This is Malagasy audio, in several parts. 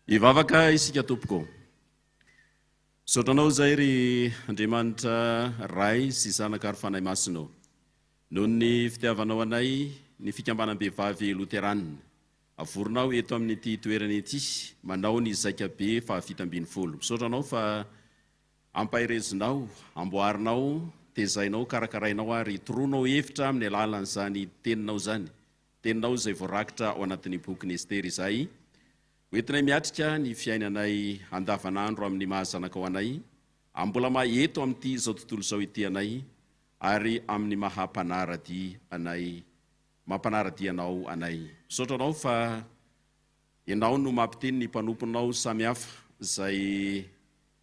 Hivavaka isika tompoko. Misaotra anao izay ry Andriamanitra Ray sy Zanaka ary Fanahy Masina ô. Noho ny fitiavanao anay, ny Fikambanam-behivavy Loteranina, avorinao eto amin'ity toerana ity, manao ny Zaika Be fahafito ambin'ny folo. Misaotra Anao fa ampaherezinao, amboarinao, tezainao, karakarainao ary toroanao hevitra amin'ny alalan'izany Teninao izany, Teninao izay voarakitra ao anatin'ny Bokin'i Estera izay hoentinay miatrika ny fiainanay andavanandro amin'ny maha-zanakao anay, ambolamay eto amin'ity izao tontolo izao ity anay, ary amin'ny maha mpanara-dia anay maha mpanara-dia anao anay. Misaotra anao fa ianao no mampiteny ny mpanomponao samy hafa izay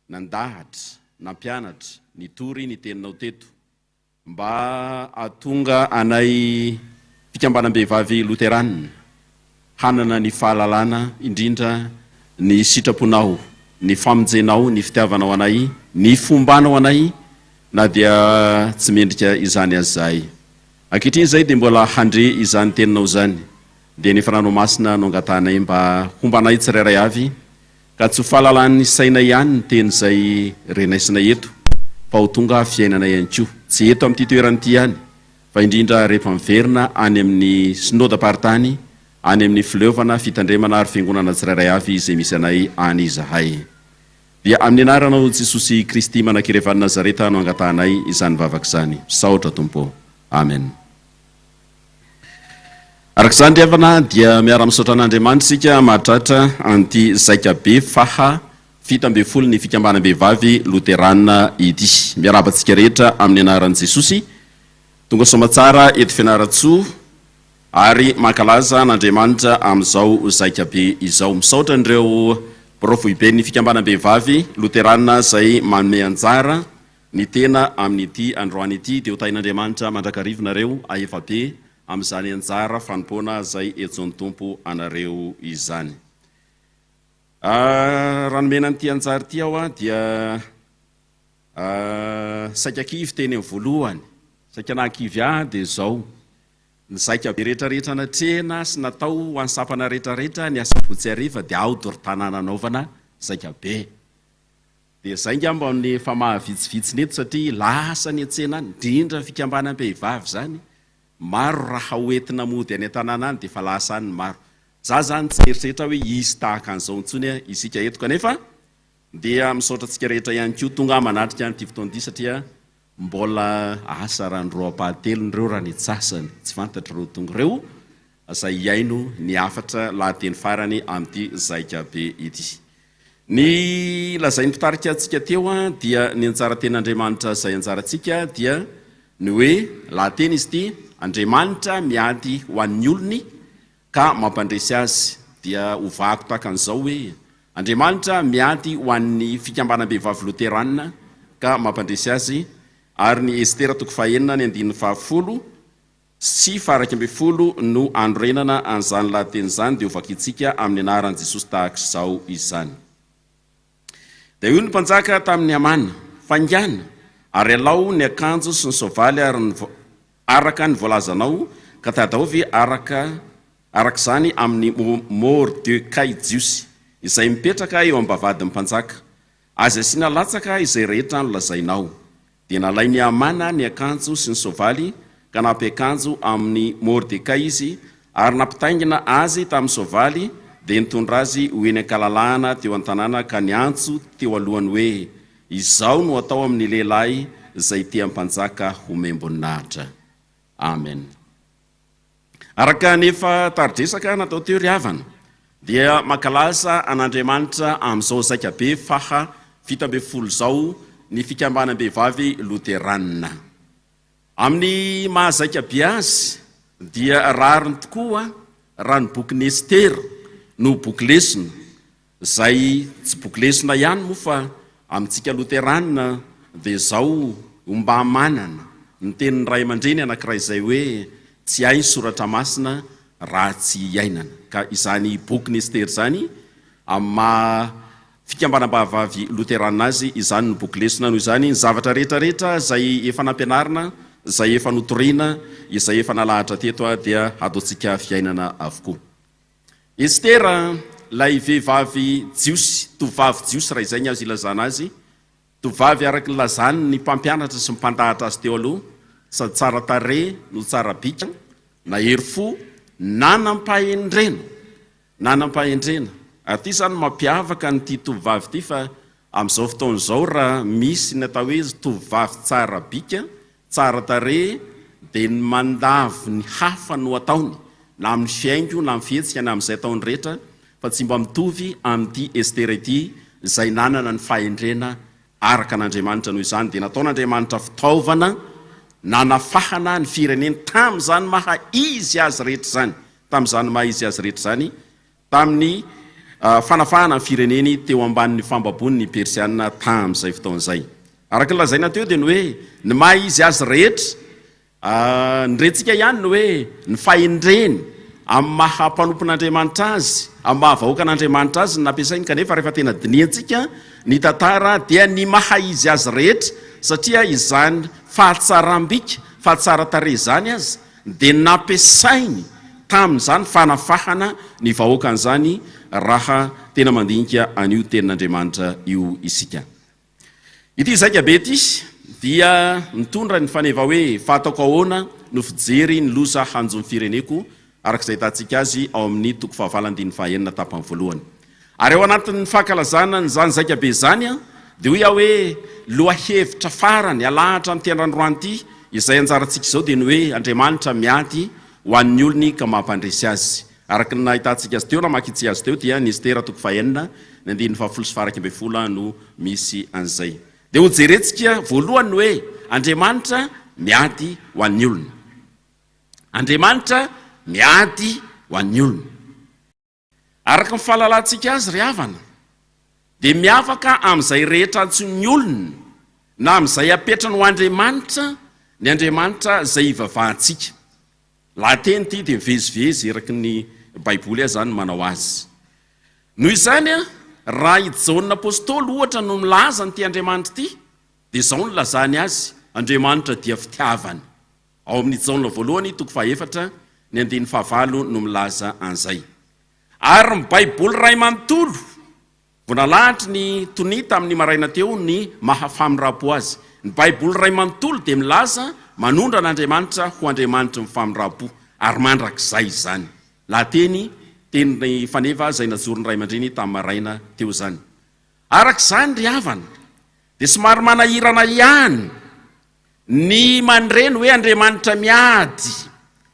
nandahatra, nampianatra, nitory ny teninao teto, mba hahatonga anay fikambanam-behivavy loterana, Hanana ny fahalalana, indrindra ny sitraponao, ny famonjenao, ny fitiavanao anay, ny fombanao anay, na dia tsy mendrika izany aza izahay. Ankehitriny izahay dia mbola handre izany teninao izany, dia ny Fananao Masina no angatahanay mba homba anay tsirairay avy, ka tsy ho fahalalan'ny sainay ihany ny teny izay renaisinay eto, fa ho tonga fiainanay ihany koa, tsy eto amin'ity toerana ity ihany, fa indrindra rehefa miverina any amin'ny Synodam-paritany any amin'ny Fileovana, Fitandremana ary Fiangonana tsirairay avy izay misy anay any izahay. Dia amin'ny anaranao Jesosy Kristy Manakirevan'i Nazareta no angatahanay izany vavaka izany. Misaotra Tompo ô. Amen. Araka izany ry havana dia miara-misaotra an'Andriamanitra isika mahatratra an'ity zaika be faha Fito ambin'ny folo ny fikambanam-behivavy loterana ity. Miarahaba antsika rehetra amin'ny anaran'i Jesosy. Tonga soamatsara eto Fianarantsoa ary mankalaza an'Andriamanitra amin'izao zaika be izao. Misaotra an'ireo birao foiben'ny fikambanam-behivavy loterana izay manome anjara ny tena amin'ity androany ity. Dia ho tahin'Andriamanitra mandrakariva anareo ahefa be amin'izany anjara fanompoana izay entsoan'ny Tompo anareo izany. Ah, raha nomena an'ity anjara ity aho ah, dia ah, saika kivy teny amin'ny voalohany, saika nahakivy ahy dia izao, ny zaika be rehetra rehetra natrehina sy natao ho an'ny sampana rehetra rehetra ny asabotsy hariva dia aho dorotanana hanaovana zaika be. Dia izay ngamba ny efa mahavitsivitsy ny eto satria lasa ny an-tsena any, indrindra fikambanam-pehivavy izany, maro raha hoentina mody any an-tanàna any dia efa lasa any ny maro. Za zany tsy eritreritra hoe hisy tahaka an'izao intsony isika eto kanefa dia misaotra antsika rehetra ihany koa tonga manatrika an'ity fotoan'ity satria mbola asa ranoraoam-pahatelony ireo raha ny tsasany tsy fantatr'ireo tonga ireo izay hihaino ny hafatra lahateny farany amin'ity zaika be ity. Ny lazain'ny mpitarika antsika teo dia ny anjara ten'Andriamanitra izay anjarantsika dia ny hoe lahateny izy ity Andriamanitra miady ho an'ny olony Ka mampandresy azy dia hovahako tahaka an'izao hoe, Andriamanitra miady ho an'ny Fikambanam-behivavy Loterana, ka mampandresy azy, ary ny Estera toko fahenina ny andininy fahafolo sy faharaika ambin'ny folo no anorenana an'izany lahateny izany dia hovakitsika amin'ny anaran'i Jesosy tahaka izao izany. Dia hoy ny mpanjaka tamin' i Hamana, Faingàna, ary alao ny akanjo sy ny soavaly ary ny araka ny voalazanao, ka tadaovy araka araka izany amin' i Môrdekay Jiosy, izay mipetraka eo am-bavahadin' ny mpanjaka, azy asiana latsaka izay rehetra nolazainao. Dia nalain'i Hamana ny akanjo sy ny soavaly ka nampiakanjo amin'i Mordekay izy, ary nampitaingina azy tamin'ny soavaly, dia nitondra azy ho eny an-kalalahana teo an-tanàna ka niantso teo alohany hoe, Izao no atao amin'ny lehilahy izay tia mpanjaka homem-boninahitra. Amen. Araka ny efa tari-dresaka natao teo ry havana dia mankalasa an'Andriamanitra amin'izao zaika be faha fito ambin'ny folo izao ny fikambanam-behivavy loteranina. Amin'ny maha zaika be azy dia rariny tokoa raha ny bokin'i Estera no boky lesona Izay tsy boky lesona ihany moa fa amintsika loteranina dia izao ho mba manana ny tenin'ny ray aman-dreny anankiray izay hoe tsy hay ny soratra masina raha tsy iainana. Ka izany bokin'i Estery izany amin'ny maha fikambanam-bahavavy loteranina azy izany no boky lesona noho izany ny zavatra rehetra rehetra izay efa nampianarina, izay efa notoriana, izay efa nalahatra teto dia hataontsika fiainana avokoa. Estera, ilay vehivavy jiosy, tovovavy jiosy raha izay ny azo ilazana azy, tovovavy araka ny lazan' ny mpampianatra sy ny mpandahatra azy teo aloha, sady tsara tarehy no tsara bika, nahery fo, nanam-pahendrena, nanam-pahendrena, ary ity izany no mampiavaka an' ity tovovavy ity fa Amin'izao fotoana izao raha misy ny atao hoe izy tovovavy tsara bika, tsara tarehy dia ny mandavo ny hafa no ataony na amin'ny fihaingo na amin'ny fihetsika na amin'izay ataony rehetra fa tsy mba mitovy amin'ity Estera ity izay nanana ny fahendrena araka an'Andriamanitra noho izany dia nataon'Andriamanitra fitaovana nanafahana ny fireneny tamin'izany maha izy azy rehetra izany tamin'izany maha izy azy rehetra izany tamin'ny fanafahana ny fireneny teo ambanin'ny fambaboan'ny Persiana tamin'izay fotoana izay. Araka ny lazaina teo dia ny hoe ny maha izy azy rehetra ny rentsika ihany ny hoe ny fahendreny amin'ny maha mpanompon'Andriamanitra azy, amin'ny maha vahoakan'Andriamanitra azy no nampiasainy kanefa rehefa tena dinihantsika ny tantara dia ny maha izy azy rehetra satria izany fahatsaram-bika, fahatsaran-tarehy izany aza dia nampiasainy tamin'izany fanafahana ny vahoaka an'izany raha tena mandinika an'io tenin'Andriamanitra io isika. Ity zaika be ity dia mitondra ny faneva hoe fa ataoko ahoana no fijery ny loza hanjo ny fireneko araka izay ahitantsika azy ao amin'ny toko fahavalo andininy fahaenina tapany voalohany. Ary ao anatin'ny fankalazana an'izany zaikabe izany dia hoy aho hoe lohahevitra farany alahatra an'ity andrandroany ity, izay anjarantsika izao dia ny hoe Andriamanitra miady ho an'ny olony ka mampandresy azy. Araka ny nahitantsika azy teo, namakintsika azy teo dia ny Estera toko fahenina ny andininy fahafolo sy faharaika ambin'ny folo no misy an'izay. Dia hojerentsika voalohany ny hoe Andriamanitra miady ho an'ny olony. Andriamanitra miady ho an'ny olony. Araka ny fahalalantsika azy, ry havana, dia miavaka amin'izay rehetra antsoin'ny olona na amin'izay apetrany ho andriamanitra ny Andriamanitra izay ivavahantsika. Lahateny ity dia mivezivezy eraky ny Baiboly aza ny manao azy. Noho izany, raha i Jaona Apostoly, ohatra, no milaza an'ity Andriamanitra ity, dia izao no ilazany azy, Andriamanitra dia fitiavana. Ao amin'ny Jaona voalohany, toko fahaefatra, ny andininy fahavalo no milaza an'izay. Ary ny Baiboly iray manontolo, vao nalahatry ny tonia tamin'ny maraina teo ny maha famindram-po azy. Ny Baiboly iray manontolo dia milaza manondro an'Andriamanitra ho Andriamanitry ny famindram-po, ary mandrakizay izany. Lahateny, teny faneva izay najoron'ny ray aman-dreny tamin'ny maraina teo izany. Araka izany ry havana, dia somary manahirana ihany Ny mandre ny hoe Andriamanitra miady,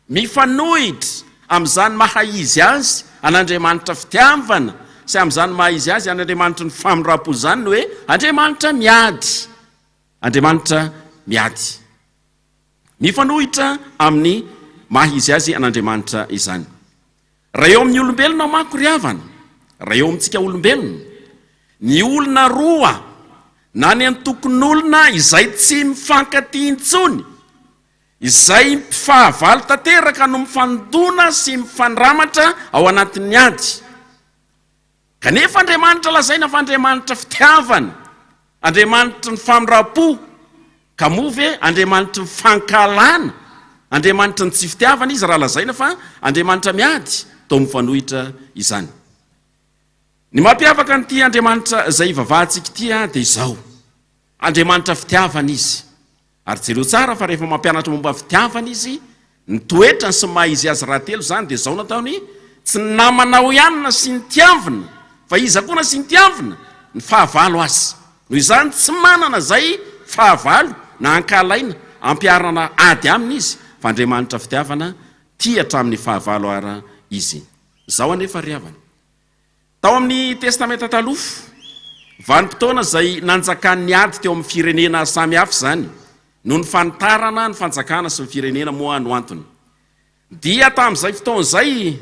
mifanohitra amin'izany maha izy azy an'Andriamanitra fitiavana sy amin'izany maha izy azy an'Andriamanitry ny famindrampo izany ny hoe Andriamanitra miady. Andriamanitra miady. Mifanohitra amin'ny maha izy azy an'Andriamanitra izany. Raha eo amin'ny olombelona manko ry havana, raha eo amintsika olombelona, ny olona roa na ny antokon'olona izay tsy mifankatia intsony, izay mpifahavalo tanteraka no mifandona sy mifandramatra ao anatin'ny ady. Kanefa Andriamanitra lazaina fa Andriamanitra fitiavana, Andriamanitry ny famindram-po, ka moa ve Andriamanitry ny fankahalana, Andriamanitry ny tsy fitiavana Izy raha lazaina fa Andriamanitra miady? Toa mifanohitra izany. Ny mampiavaka an'ity Andriamanitra izay ivavahantsika ity dia izao, Andriamanitra fitiavana Izy. Ary jereo tsara fa rehefa mampianatra momba ny fitiavana izy, ny toetrany sy ny maha izy azy rahatelo izany dia izao no ataony, Tsy ny namanao ihany no asiany tiavina fa iza koa no asiany tiavina? Ny fahavalo aza. Noho izany tsy manana izay fahavalo na ankahalaina ampiharana ady aminy izy fa Andriamanitra fitiavana, tia hatramin'ny fahavalo ara izy. Izao anefa ry havana. Tao amin'ny Testamenta Taloha, vanim-potoana izay nanjakan'ny ady teo amin'ny firenena samy hafa izany no nifanitarana ny fanjakana sy ny firenena moa no antony. Dia tamin'izay fotoana izay,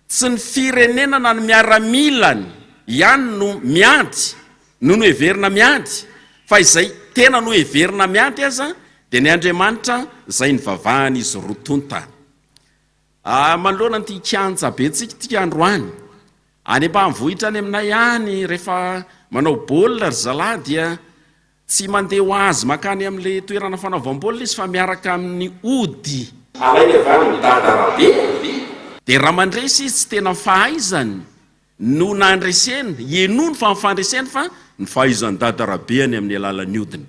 tsy ny firenena na ny miaramilany ihany no miady no noheverina miady, fa izay tena noheverina miady aza dia ny andriamanitra izay nivavahan'izy roa tonta. Manoloana an'ity kianja bentsika ity androany, any ambanivohitra any aminay any rehefa manao baolina ry zalahy dia tsy mandeha ho azy mankany amin'ilay toerana fanaovam-baolina izy fa miaraka amin'ny ody. Alainy avy any amin'ny dada Rabe. Dia raha mandresy izy tsy tena fahaizany no nandreseny, henoiny fa ny fandreseny fa ny fahaizan'i Dada Rabeany amin'ny alalan'ny odiny.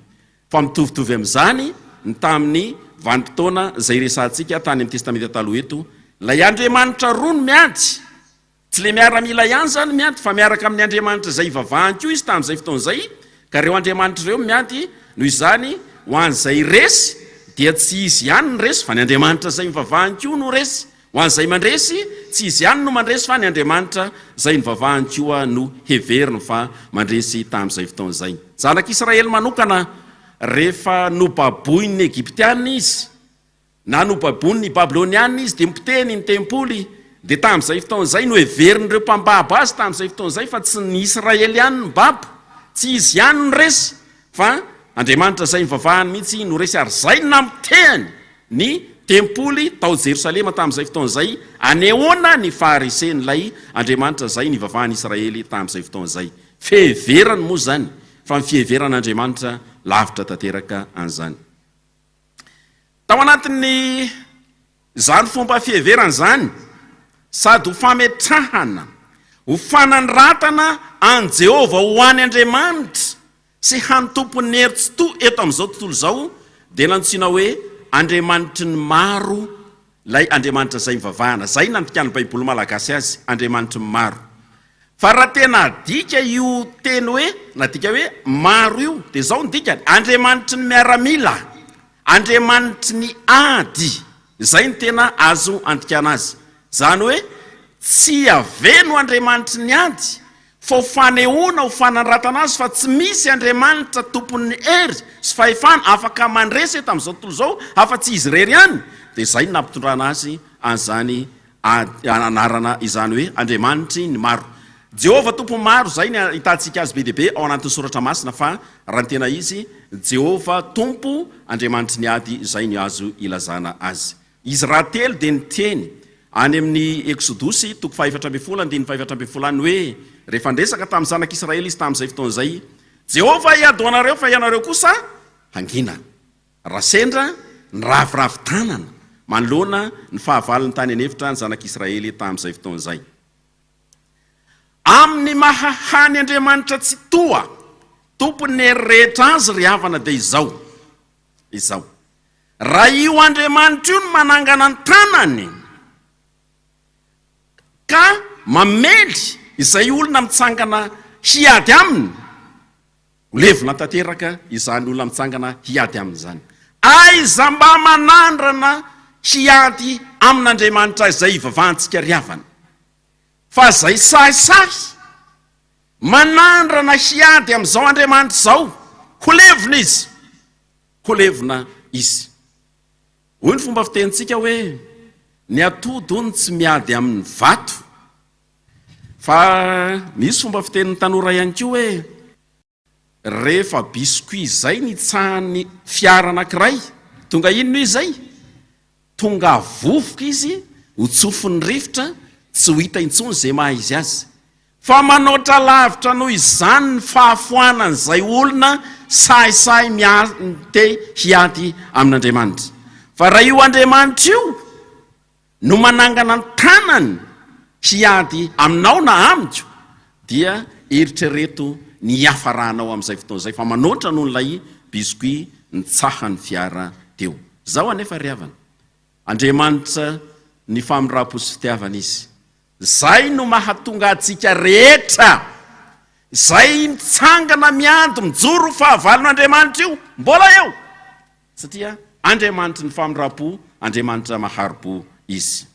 Fa mitovitovy amin'izany ny tamin'ny vanim-potoana izay iresahantsika tany amin'ny Testamenta Taloha eto, ilay Andriamanitra roa no miady, tsy ilay miaramila ihany izany miady fa miaraka amin'ny Andriamanitra izay ivavahany koa izy tamin'izay fotoana izay, ka ireo Andriamanitra ireo miady, noho izany ho an'izay resy dia tsy izy ihany no resy fa ny Andriamanitra izay ivavahany koa no resy. Ho an'izay mandresy, tsy izy ihany no mandresy fa ny Andriamanitra izay nivavahany koa no heveriny fa mandresy tamin'izay fotoana izay. Zanak'Israely manokana, rehefa nobaboin'ny Egyptianina izy, na nobaboin'ny Babylonianina izy dia nipotehiny ny tempoly, dia tamin'izay fotoana izay no heverin'ireo mpambabo azy tamin'izay fotoana izay fa tsy ny Israely ihany no nibabo, tsy izy ihany no resy Fa Andriamanitra izay nivavahany mihitsy no resy ary izay namotehany ny tempoly tao Jerosalema tamin'izay fotoana izay, anehoana ny faharisen'ilay Andriamanitra izay nivavahan'i Israely tamin'izay fotoana izay. Fiheverany moa izany, fa ny fiheveran'Andriamanitra lavitra tanteraka an'izany. Tao anatin'ny Izany fomba fiheverana izany sady ho fametrahana ho fanandratana an'i Jehovah ho any Andriamanitra sy hany Tompon'ny hery tsitoha eto amin'izao tontolo izao, dia nantsoina hoe Andriamanitry ny maro ilay Andriamanitra izay ivavahana. Izay nandikàn'ny Baiboly malagasy azy, Andriamanitry ny maro. Fa raha tena adika io teny hoe nadika hoe maro io dia izao no dikany, Andriamanitry ny miaramila, Andriamanitry ny ady, izay no tena azo andikana azy. Izany hoe tsy Yaveh no Andriamanitry ny ady fa ho fanehoana ho fanandratana azy fa tsy misy Andriamanitra tompon'ny hery sy fahefana afaka mandresy eto amin'izao tontolo izao afa-tsy izy irery ihany dia izay no nampitondrana azy an'izany Ady anarana izany hoe Andriamanitry ny maro. Jehovah Tompon'ny maro, izay no ahitantsika azy be dia be ao anatin'ny Soratra Masina, fa raha ny tena izy, Jehovah Tompo, Andriamanitry ny ady, izay no azo ilazana azy. Izy rahatelo dia niteny, any amin'ny Eksodosy, toko fahefatra ambin'ny folo, andininy fahefatra ambin'ny folo any, hoe, rehefa niresaka tamin'ny Zanak'i Israely izy tamin'izay fotoana izay, Jehovah hiady ho anareo, fa ianareo kosa hangina. Raha sendra niraviravy tanana manoloana ny fahavalony tany an'efitra ny Zanak'i Israely tamin'izay fotoana izay, amin'ny maha hany Andriamanitra Tsitoha, Tompon'ny hery rehetra azy ry havana, dia izao, izao, Raha io Andriamanitra io no manangana ny tanany ka mamely izay olona mitsangana hiady aminy, Holevina tanteraka izany olona mitsangana hiady aminy izany. Aiza mba manandrana hiady amin'Andriamanitra izay ivavahantsika ry havana? Fa izay sahisahy manandrana hiady amin'izao Andriamanitra izao, holevina izy! Holevina izy! Hoy ny fomba fitenintsika hoe, Ny atody hono tsy miady amin'ny vato. Fa misy fomba fitenin'ny tanora ihany koa hoe rehefa biscuit izay ny tsahan'ny fiara anankiray, tonga inona io izay? Tonga vovoka izy, ho tsofin'ny rivotra, tsy ho hita intsony izay maha izy azy. Fa manoatra lavitra noho izany ny fahafoanan'izay olona sahisahy miha-te hiady amin'Andriamanitra. Fa raha io Andriamanitra io. no manangana ny tanany hiady aminao na amiko, dia eritrereto ny hiafaranao amin'izay fotoana izay fa manoatra noho ilay biscuit nitsahan'ny fiara teo. Izao anefa ry havana, Andriamanitra ny famindram-po sy fitiavana Izy. Izay no mahatonga antsika rehetra izay mitsangana miady mijoro ho fahavalon'Andriamanitra io mbola eo. Satria Andriamanitry ny famindram-po, Andriamanitra mahari-po Izy.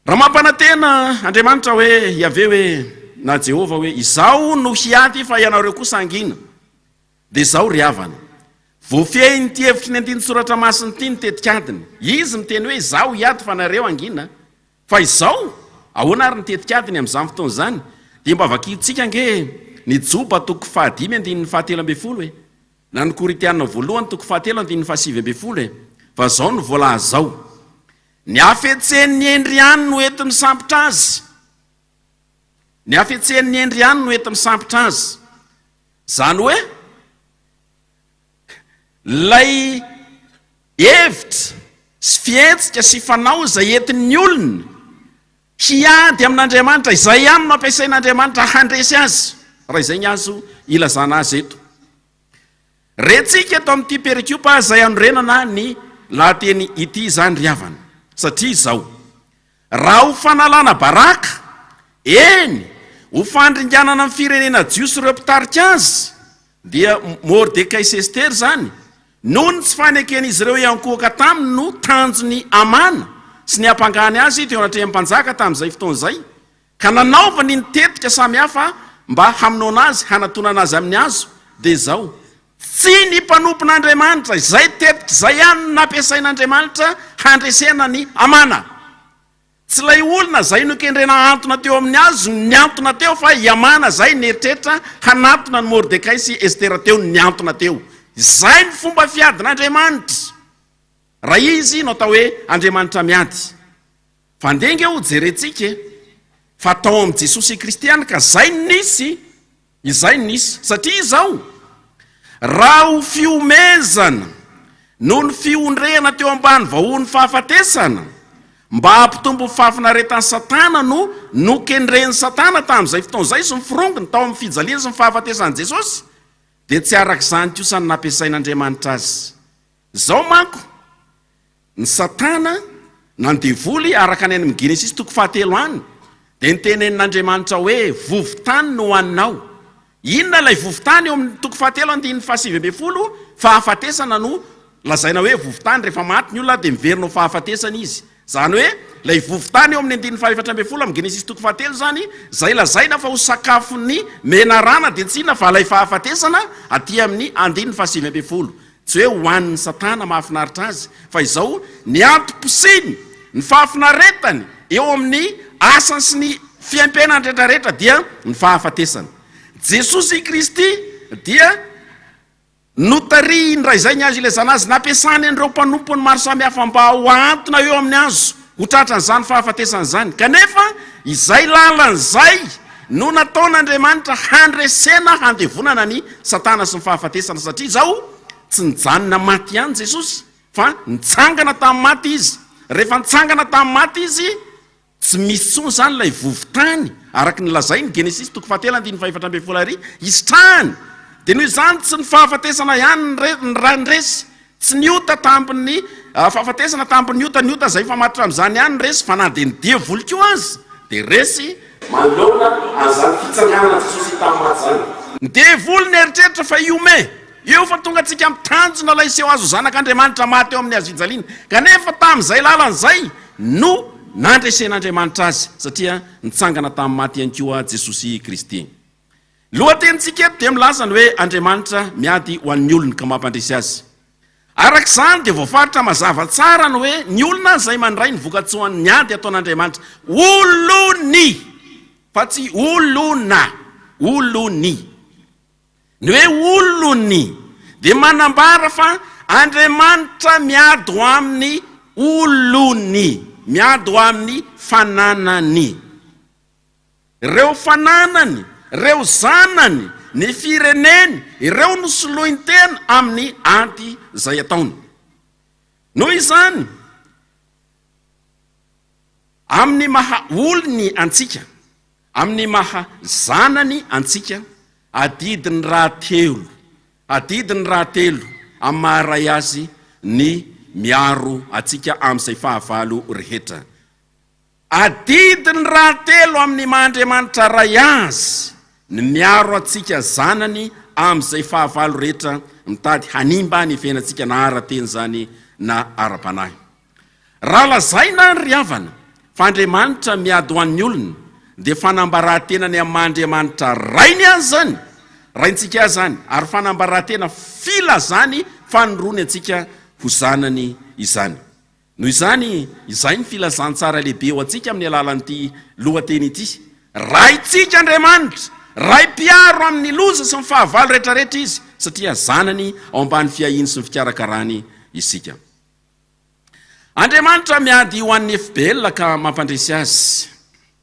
Raha mampanantena Andriamanitra hoe, Yaveh hoe, na Jehovah hoe, Izaho no hiady fa ianareo kosa hangina, dia izao ry havana, voafehin'ity hevitry ny andinin-tsoratra masina ity ny tetik'adiny. Izy miteny hoe, Izaho hiady fa nareo hangina, Fa izao, ahoana ary ny tetikadiny amin'izany fotoana izany? Dia mba vakintsika ange ny Joba toko fahadimy andininy fahatelo ambin'ny folo e! Na ny Korintiana voalohany toko fahatelo andininy fahasivy ambin'ny folo e! Fa izao no voalaza ao, Ny hafetsen'ny hendry ihany no enti-misambotra azy. Ny hafetsen'ny hendry ihany no enti-misambotra azy. Izany hoe, ilay Hevitra sy fihetsika sy fanao izay entin'ny olona hiady amin'Andriamanitra, izay ihany no ampiasain'Andriamanitra handresy azy, raha izay ny azo ilazana azy eto. Rentsika eto amin'ity perikopa izay hanorenana ny lahateny ity izany ry havana, satria izao. Raha ho fanalana baraka, eny, ho fandringanana ny firenena jiosy ireo mpitarika azy, dia Mordekay sy Estera izany, noho ny tsy faneken'izy ireo hiankohoka taminy no tanjon'i Hamana sy ny hampangany azy teo anatrehan'ny mpanjaka tamin'izay fotoana izay, Ka nanaovany ny tetika samy hafa mba hamonoana azy, hanatonana azy amin'ny hazo, dia izao, Tsy ny mpanompon'Andriamanitra, izay tetika izay ihany no nampiasain'Andriamanitra handresena an'i Hamana. Tsy ilay olona izay nokendrena hahantona teo amin'ny hazo no nihantona teo, fa i Hamana izay nieritreritra hanatona an'i Mordekay sy Estera teo no nihantona teo. Izay no fomba fiadin'Andriamanitra, raha Izy no atao hoe Andriamanitra miady. Fa andeha ange ho jerentsika e! Fa tao amin'i Jesosy Kristy ihany ka izay no nisy, izay no nisy. Satria izao, raha ho fihomezana noho ny fihondrehana teo ambany vahohon'ny fahafatesana, mba hampitombo ny fahafinaretan'i Satana no nokendren'i Satana tamin'izay fotoana izay sy ny firongony tao amin'ny fijaliany sy ny fahafatesan'i Jesosy, dia tsy arak'izany kosa no nampiasain'Andriamanitra azy. Izao manko. Ny Satana, na ny Devoly, araka ny any amin'ny Genesisy toko fahatelo any, dia notenenin'Andriamanitra hoe, Vovo-tany no ho aninao. Inona ilay vovo-tany eo amin'ny toko fahatelo andininy fahasivy ambin'ny folo? Fahafatesana no lazaina hoe vovo-tany. Rehefa maty ny olona dia miverina ho fahafatesana izy. Izany hoe, ilay vovo-tany eo amin'ny andininy fahefatra ambin'ny folo amin'ny Genesisy toko fahatelo izany, izay lazaina fa ho sakafon'ny menarana, dia tsy inona fa ilay fahafatesana aty amin'ny andininy fahasivy ambin'ny folo. Tsy hoe ho an'ny satana mahafinaritra azy, fa izao ny antom-posiny, ny fahafinaretany eo amin'ny asany sy ny fiaimpiainany rehetrarehetra dia ny fahafatesana. Jesosy Kristy dia notarihiny raha izay ny hazo ilezana azy, nampiasany an'ireo mpanompony maro samihafa mba ho ahantona eo amin'ny hazo. Ho tratran'izany fahafatesana izany. Kanefa, izay lalana izay no nataon'Andriamanitra handresena, handevonana an'i Satana sy ny fahafatesana, satria izao, tsy nijanona maty ihany Jesosy, fa nitsangana tamin'ny maty Izy. Rehefa nitsangana tamin'ny maty Izy, tsy misy intsony izany ilay vovo-tany, araka ny lazain'ny Genesisy toko fahatelo andininy fahefatra ambin'ny folo ary hisitrahany. Dia noho izany, tsy ny fahafatesana ihany no nandresy, Tsy ny ota tambin'ny fahafatesana, tambin'ny ota, ny ota izay mifamatotra amin'izany ihany no resy, fa na dia ny devoly koa aza dia resy. Manoloana an'izany fitsanganan'i Jesosy hita amin'ny maty izany. Ny devoly nieritreritra fa hihomehy eo fa tonga tsy hikamby tanjona ilay seho azo Zanak'Andriamanitra maty eo amin'ny hazofijaliana, kanefa tamin'izay lalana izay no nandresen'Andriamanitra azy, satria nitsangana tamin'ny maty ihany koa Jesosy Kristy. Ny lohatenintsika eto dia milaza ny hoe Andriamanitra miady ho an'ny olony ka mampandresy azy. Araka izany dia voafaritra mazava tsara ny hoe ny olona izay mandray ny vokatsoan'ny ady ataon'Andriamanitra olony fa tsy olona, olony. Ny hoe olony dia manambara fa Andriamanitra miady ho amin'ny olony, miady ho amin'ny fananany. Ireo fananany, ireo zanany, ny fireneny, ireo no soloiny tena amin'ny ady izay ataony. Noho izany, amin'ny maha olony antsika, amin'ny maha zanany antsika, adidiny rahatelo, adidiny rahatelo amin'ny maha ray azy ny miaro antsika amin'izay fahavalo rehetra. Adidy ny rahatelo amin'ny maha Andriamanitra Ray Azy ny miaro antsika zanany amin'izay fahavalo rehetra mitady hanimba ny fiainantsika na ara-teny izany na ara-panahy. Raha lazaina ry havana fa Andriamanitra miady ho an'ny olony dia fanambaràtenany amin'ny maha Andriamanitra Rainy Azy izany, Raintsika Azy izany, ary fanambaràtena filazany fanirony antsika ho zanany izany. Noho izany, izay ny filazantsara lehibe ho antsika amin'ny alalan'ity lohateny ity, Raintsika Andriamanitra, Ray mpiaro amin'ny loza sy ny fahavalo rehetrarehetra Izy, satria zanany ao ambany fiahiany sy ny fikarakarany isika. Andriamanitra miady ho an'ny FBL ka mampandresy azy.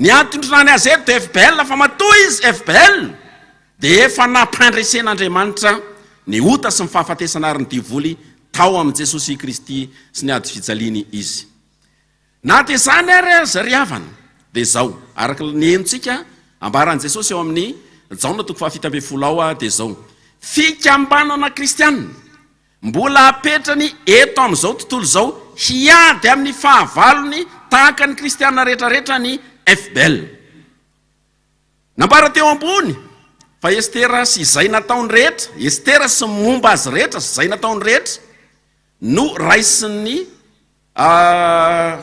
Ny adin-droa any Azero dia FBL fa matoa izy FBL dia efa nampandresen'Andriamanitra ny ota sy ny fahafatesana ary ny devoly tao amin'i Jesosy Kristy sy ny ady fijaliany izy. Na dia izany ary aza ry havana dia izao araka ny henontsika ambaran'i Jesosy ao amin'ny Jaona toko fahafito ambin'ny folo ao dia izao fikambanana kristiana Mbola apetrany eto amin'izao tontolo izao hiady amin'ny fahavalony tahaka ny kristiana rehetra rehetra ny FBL. Nambara teo ambony fa Estera sy izay nataony rehetra, Estera sy ny momba azy rehetra sy izay nataony rehetra no raisin'ny. A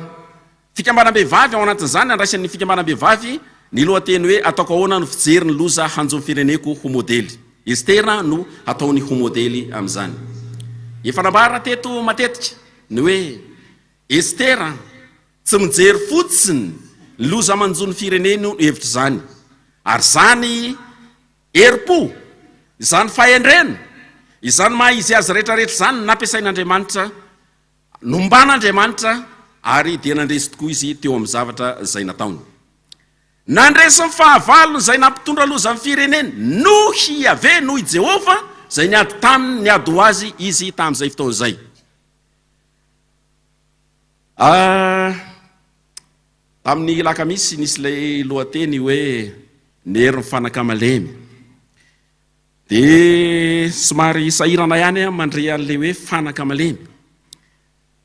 Fikambanam-behivavy, ao anatin'izany nandraisan'ny Fikambanam-behivavy ny lohateny hoe Ataoko ahoana ny fijery ny loza hanjo ny fireneko ho modely. Estera no hataony ho modely amin'izany. Efa nambarana teto matetika ny hoe Estera tsy mijery fotsiny ny loza manjo ny fireneny no hevitr'izany, ary izany herim-po, izany fahendrena, izany maha-izy azy rehetra rehetra izany no nampiasain'Andriamanitra Nomban'Andriamanitra ary dia nandresy tokoa Izy teo amin'ny zavatra izay nataony. Nandresy ny fahavalony izay nampitondra loza amin'ny fireneny. Noho i Yaveh, noho i Jehovah, izay niady taminy, niady ho Azy Izy tamin'izay fotoana izay. Ah, tamin'ny Alakamisy nisy ilay lohateny hoe ny herin'ny fanaka malemy. Dia somary sahirana ihany aho mandre an'ilay hoe fanaka malemy.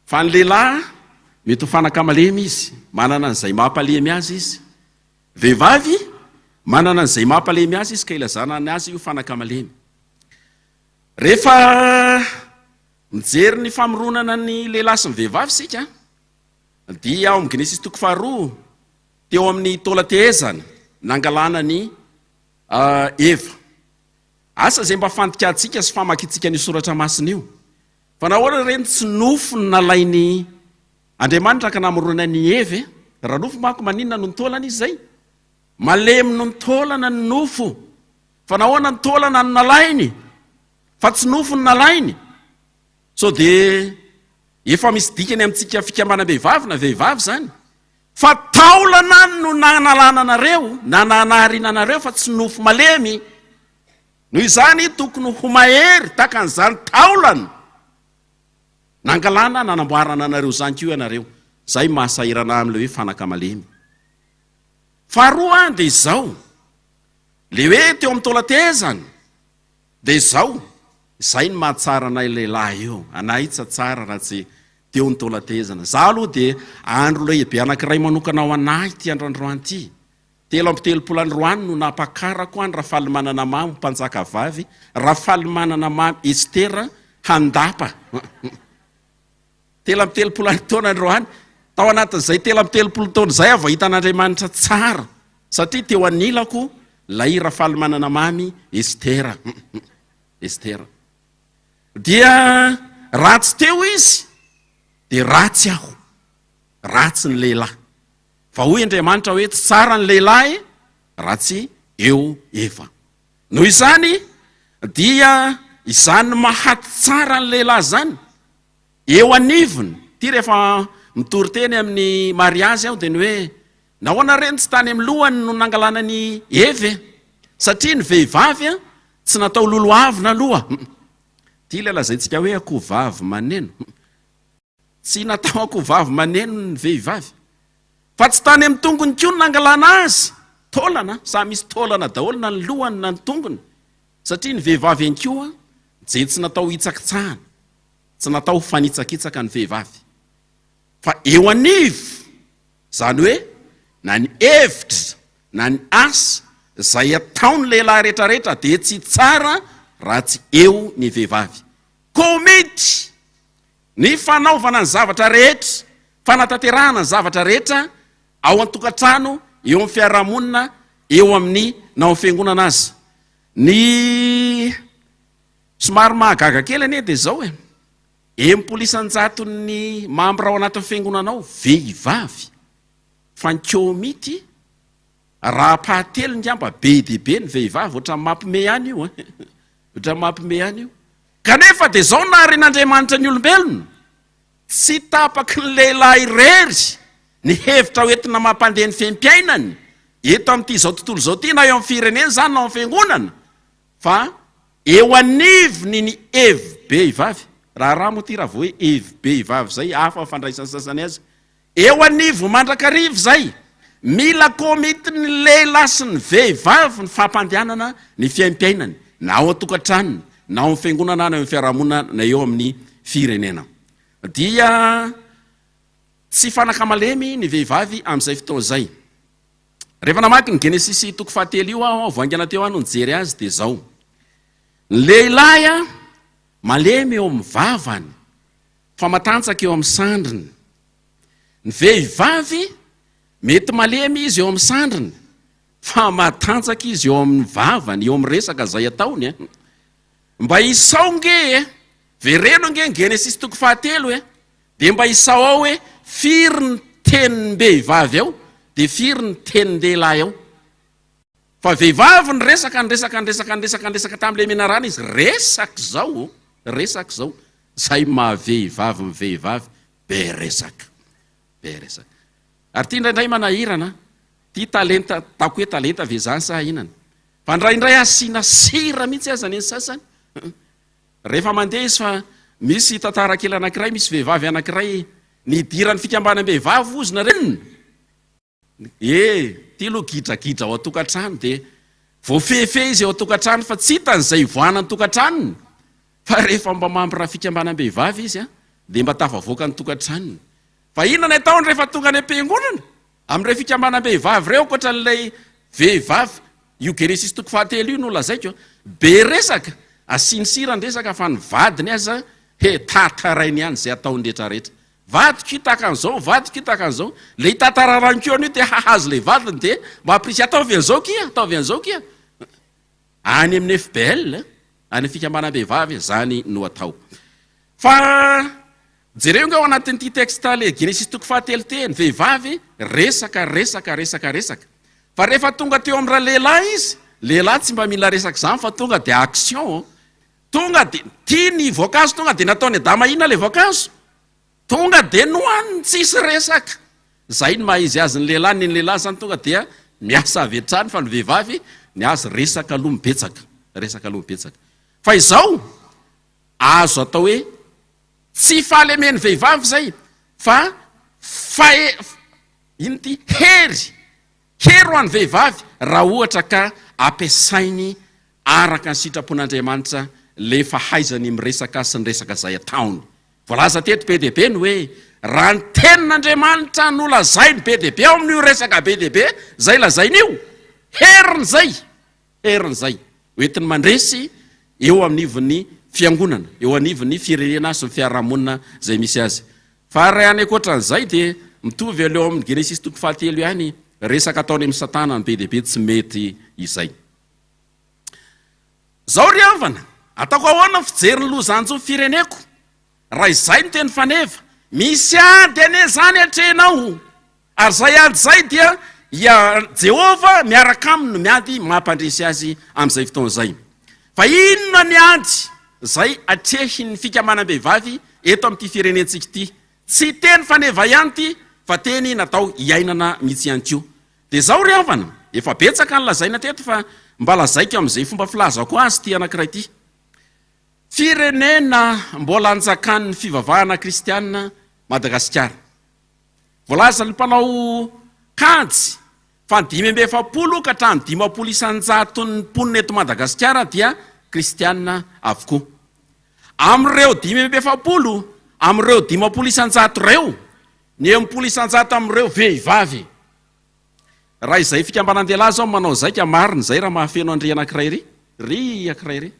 Fa ny lehilahy, mety ho fanaka malemy izy, manana an'izay mampalemy azy izy. Vehivavy, manana an'izay mampalemy azy izy ka ilazana ny azy ho fanaka malemy. Rehefa mijery ny famoronana ny lehilahy sy ny vehivavy isika, dia ao amin'ny Genesisy toko faharoa, teo amin'ny taolan-tehezana, nangalana ny A Eva. Asa izay mba fandikàntsika sy famakiantsika an'io soratra masina io. Fa nahoana re no tsy nofo no nalain'i Andriamanitra ka namorona an'i Eva e? Raha nofo manko maninona no nitaolana izy izay? Malemy no nitaolana ny nofo. Fa nahoana ny taolana no nalainy fa tsy nofo no nalainy? Sao dia efa misy dikany amintsika fikambanam-behivavy na vehivavy izany? Fa taolana no nanalana anareo na nanahariana anareo fa tsy nofo malemy. Noho izany tokony ho mahery tahaka an'izany taolana nangalana nanamboarana anareo izany koa ianareo. Izay maha sahirana ahy amin'ilay hoe fanaka malemy. Faharoa dia izao, ilay hoe teo amin'ny taolan-tehezana, Dia izao, izay no mahatsara anay lehilahy io, anay io tsy hatsara raha tsy teo ny taolan-tehezana. Izaho aloha dia andro lehibe anankiray manokana ho an'ahy ity andrandroany ity. Telo amby telopolo androany no nampakarako an'i Rafalimanana Mamy ho mpanjaka vavy, Rafalimanana Mamy Estera Handapa. Telo amby telopolo any taona ny roany. Tao anatin'izay telo amby telopolo taona izay aho vao hita an'Andriamanitra tsara, satria teo anilako ilay Rafalimanana Mamy Estera. Estera. Dia raha tsy teo izy, dia ratsy aho. Ratsy ny lehilahy. Fa hoy Andriamanitra hoe tsy tsara ny lehilahy raha tsy eo Eva. Noho izany dia izany mahaty tsara ny lehilahy izany eo anivony, ity rehefa mitory teny amin'ny mariazy aho dia ny hoe nahoana re ny tsy tany amin'ny lohany no nangalana an'i Eva e? satria ny vehivavy a tsy natao lolo avona aloha, ity ilay lazaintsika hoe akoho vavy maneno. Tsy natao ankohovavy maneno ny vehivavy. Fa tsy tany amin'ny tongony koa no nangalana azy, taolana, samy misy taolana daholo na ny lohany na ny tongony, satria ny vehivavy ihany koa dia tsy natao hitsakitsahana, tsy natao ho fanitsakitsaka ny vehivavy. Fa eo anivo, izany hoe na ny hevitra na ny asa izay ataon'ny lehilahy rehetrarehetra dia tsy tsara raha tsy eo ny vehivavy. Komity Ny fanaovana ny zavatra rehetra, fanatanterahana ny zavatra rehetra ao an-tokantrano, eo amin'ny fiarahamonina, eo amin'ny na ao amin'ny fiangonana aza. Ny somary mahagaga kely anie dia izao e, enimpolo isan-jaton'ny mambra ao anatin'ny fiangonana ao vehivavy, fa ny kômity raha-pahatelo ngamba be dia be ny vehivavy, ohatran'ny mampme any io e, ohatran'ny mampme any io. Kanefa dia izao naharen'Andriamanitra ny olombelona, Tsy tapaky ny lehilahy irery ny hevitra hoentina mampandeha ny fehim-piainany eto amin'ity izao tontolo izao ity, na eo amin'ny firenena izany na ao amin'ny fiangonana, fa eo anivony ny hevi-behivavy. Raharaha moa ity raha vao hoe hevi-behivavy izay, hafa ny fandraisan'ny sasany azy. Eo anivon mandrakariva izay, mila komity ny lehilahy sy ny vehivavy ny fampandehanana ny fiaimpiainany na ao an-tokantranony na ao amin'ny fiangonana na eo amin'ny fiarahamonina na eo amin'ny firenena. Dia tsy fanaka malemy ny vehivavy amin'izay fotoana izay. Rehefa namaky ny Genesisy toko fahatelo io aho, vao haingana teo aho no nijery azy dia izao, Ny lehilahy malemy eo amin'ny vavany, Fa matanjaka eo amin'ny sandriny. Ny vehivavy, mety malemy izy eo amin'ny sandriny, fa matanjaka izy eo amin'ny vavany, eo amin'ny resaka izay ataony e! Mba isao nge e! Vereno nge ny Genesisy toko fahatelo e! Dia mba isao ao hoe firy ny tenim-behivavy ao, dia firy ny tenin-dehilahy ao. Fa vehivavy niresaka, niresaka, niresaka, niresaka, niresaka tamin'ilay menarana izy, resaka izao ô, resaka izao, izay maha vehivavy ny vehivavy, be resaka, be resaka. Ary ity indraindray manahirana an, ity talenta, ataoko hoe talenta ve izany sa inona? Fa indraindray asiana sira mihitsy aza ny sasany, rehefa mandeha izy fa misy tantara kely anankiray, misy vehivavy anankiray nidiran'ny fikambanam-behivavy hozy nareo, E! Ity aloha gidragidra ao an-tokantrano dia voafehifehy izy ao an-tokantrano fa tsy hitany izay hivoahana ny tokantranony fa rehefa mba mampiraha fikambanam-behivavy izy dia mba tafavoaka ny tokantranony. Fa inona ny ataony rehefa tonga any am-piangonana amin'ireo fikambanam-behivavy ireo ankoatra an'ilay vehivavy io Genesis toko fahatelo io no lazaiko be resaka asiany sira ny resaka fa ny vadiny aza he! Tatarainy ihany izay ataony rehetrarehetra Vadiko io tahaka an'izao, vadiko io tahaka an'izao. Ilay tantara rankiona io te hahazo ilay vadiny dia mba hampirisika, ataovy an'izao kia, ataovy an'izao kia. Any amin'ny FBL, any amin'ny fikambanam-behivavy, izany no atao. Fa jereo nga ao anatin'ity texte ilay Genesisy toko fahatelo te, ny vehivavy resaka, resaka, resaka, resaka. Fa rehefa tonga teo amin'ny ralehilahy izy, lehilahy tsy mba mila resaka izany fa tonga dia action. Tonga de tia ny voankazo tonga de nataony Adama hihinana le voankazo tonga de nohaniny tsisy resaka zay ny maha izy azy ny lehilahy ny ny lehilahy zany tonga dia miasa avy hatrany fa ny vehivavy ny azy resaka aloha mibetsaka resaka aloha mibetsaka fa izao azo atao hoe tsy fahalemen'ny vehivavy zay fa fahe ino ty hery Hery ho an'ny vehivavy raha ohatra ka ampiasainy araka ny sitrapon'Andriamanitra le fahaizany miresaka sy ny resaka izay ataony. Voalaza teto be dia be ny hoe raha ny tenin'Andriamanitra no lazainy be dia be ao amin'io resaka be dia be izay lazainy io, heriny izay. Herin'izay, ho entiny mandresy eo anivon'ny Fiangonana, eo anivon'ny firenena sy ny fiarahamonina izay misy azy. Fa ary any ankoatran'izay dia mitovy eo leo amin'ny Genesisy toko fahatelo ihany resaka ataony amin'i Satana ny be dia be tsy mety izay. Izao ry havana, ataoko ahoana ny fijery ny lozanjo ny fireneko? Raha izay no teny faneva, misy ady anie izany atrehinao, ary izay ady izay dia i Jehovah miaraka aminy no miady mampandresy azy amin'izay fotoana izay. Fa inona ny ady izay atrehin'ny fikamanam-behivavy eto amin'ity firenentsika ity? Tsy teny faneva ihany ity fa teny natao hiainana mihitsy ihany koa. Dia izao ry havana, efa betsaka ny lazaina teto fa mba lazaiko amin'izay fomba filazako azy ity anankiray ity. Firenena mbola anjakan'ny fivavahana kristiana Madagasikara. Voalazan'ny mpanao kajy fa ny dimy amby efapolo ka hatramin'ny dimampolo isan-jaton'ny mponina eto Madagasikara dia kristiana avokoa. Amin'ireo dimy amby efapolo, amin'ireo dimampolo isan-jato ireo, ny enimpolo isan-jato amin'ireo vehivavy. Raha izay fikambanan-dehilahy izao no manao zaika, marina izay raha mahafeno an'ry anankiray ry, ry ankiray ry.